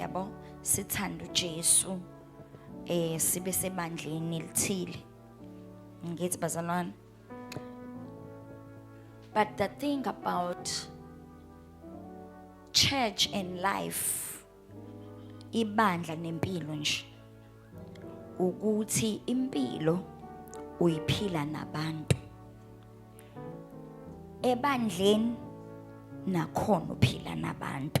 yabo sithanda uJesu eh sibe sebandleni elithile ngithi bazalwane but the thing about church and life ibandla nempilo nje ukuthi impilo uyiphila nabantu ebandleni nakhona uphila nabantu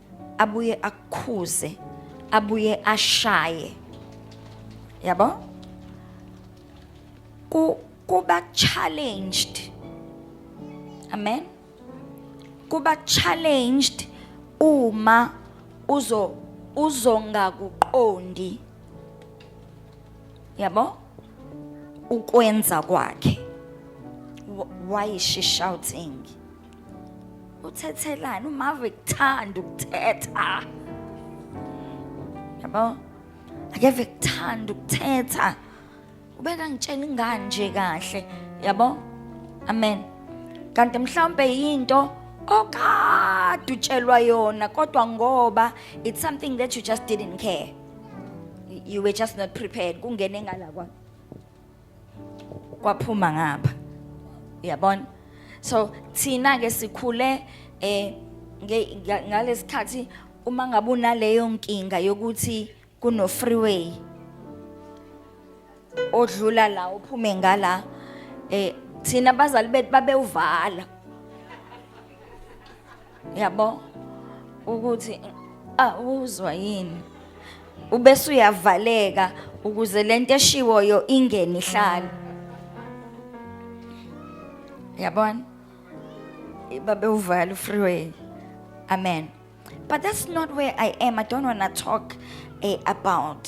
abuye akukhuze abuye ashaye yabo ku kuba challenged amen kuba challenged uma uzo uzongakuqondi yabo ukwenza kwakhe why is she shouting uthethelani umave kuthanda ukuthetha yabo akeve kuthanda ukuthetha ubeka ngitshela ingane nje kahle yabo amen kanti mhlawumbe yinto okade utshelwa yona kodwa ngoba it's something that you just didn't care you were just not prepared kungene ngala kwakho kwaphuma ngapha uyabona so thina ke sikhule eh ngalesikhathi uma ngabe unaleyo nkinga yokuthi kuno freeway odlula la uphume ngala eh thina bazali bethu babewuvala yabo ukuthi awuzwa yini ubese uyavaleka ukuze lento eshiwoyo ingene ihlale yabona babe uvala ufreeway amen but that's not where i am i don't want to talk eh, about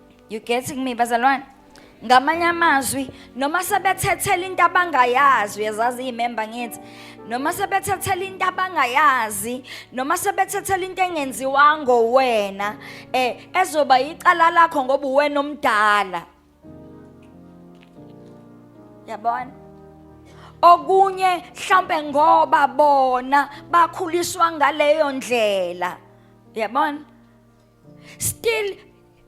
You getting me bazalwane? Ngamanye amazwi noma sebethethela into abangayazi uyazazi imember ngithi noma sebethethela into abangayazi noma sebethethela into engenziwa ngowena eh ezoba icala lakho ngoba uwena omdala Yabona okunye mhlambe ngoba bona bakhuliswa ngaleyo ndlela yabona still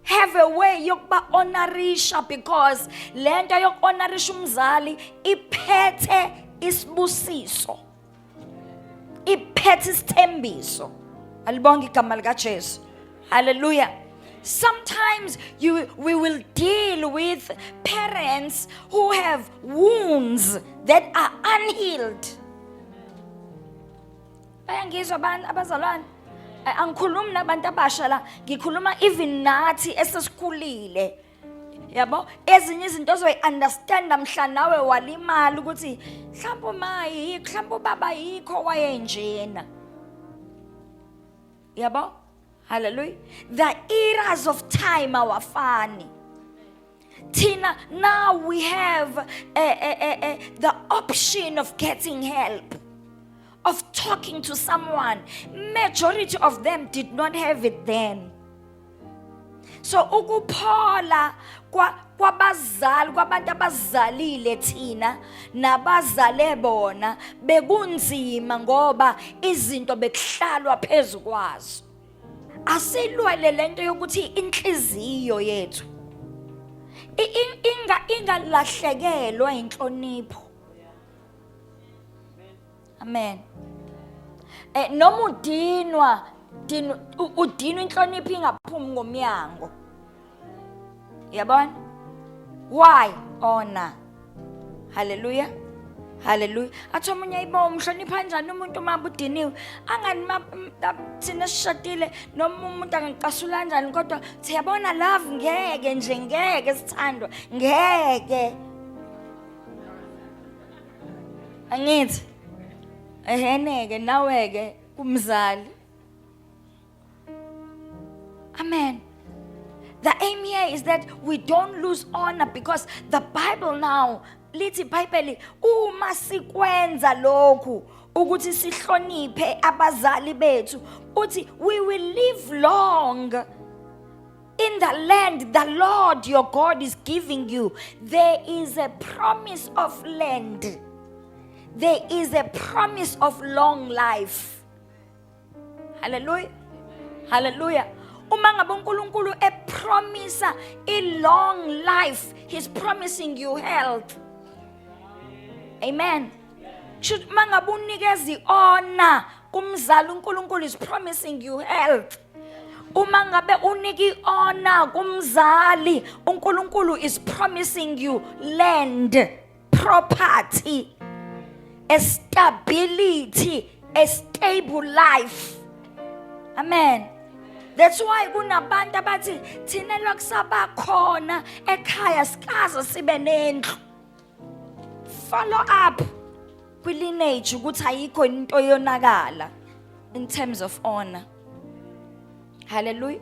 have a way yokuba honorisha because lento yokuhonorisha umzali iphethe isibusiso iphethe isithembiso alibonga igama likaJesu haleluya sometimes you, we will deal with parents who have wounds that are unhealed bayangizwa abantu abazalwane Eh, angikhulumi nabantu abasha la ngikhuluma even nathi esesikhulile yabo ezinye izinto ozoyi-understanda mhla nawe walimala ukuthi mhlawumbe uma yikho mhlawumbe ubaba yikho wayenjena yabo hallelujah the eras of time awafani Tina, now we have uh, uh, uh, the option of getting help, of talking to someone. Majority of them did not have it then. So ukuphola kwa kwabazali kwabantu abazalile thina nabazale bona bekunzima ngoba izinto bekuhlalwa phezukwazo. asilwele lento yokuthi inhliziyo yethu inga ingalahlekelwa inhlonipho amen eh noma udinwa udinwa inhlonipho ingaphumi ngomyango yabona why ona haleluya haleluya athi omunye ayibo umhlonipha kanjani umuntu uma budiniwe angani thina sishadile noma umuntu angicasula kanjani kodwa siyabona love ngeke nje ngeke sithandwa ngeke angithi eheneke nawe-ke kumzali Amen. The aim here is that we don't lose honor because the Bible now lithi iBhayibheli uma sikwenza lokhu ukuthi sihloniphe abazali bethu uthi we will live long in the land the Lord your God is giving you there is a promise of land there is a promise of long life Hallelujah. Hallelujah. Uma ngabe uNkulunkulu epromisa i long life, he's promising you health. Amen. Should mangabe unikeza iona kumzali uNkulunkulu is promising you health. uma ngabe unika iona kumzali uNkulunkulu is promising you land property a stability a stable life amen That's why kunabantu abathi thina lokusaba khona ekhaya sikaze sibe nendlu. Follow up kwi lineage ukuthi ayikho into yonakala in terms of honor. Hallelujah.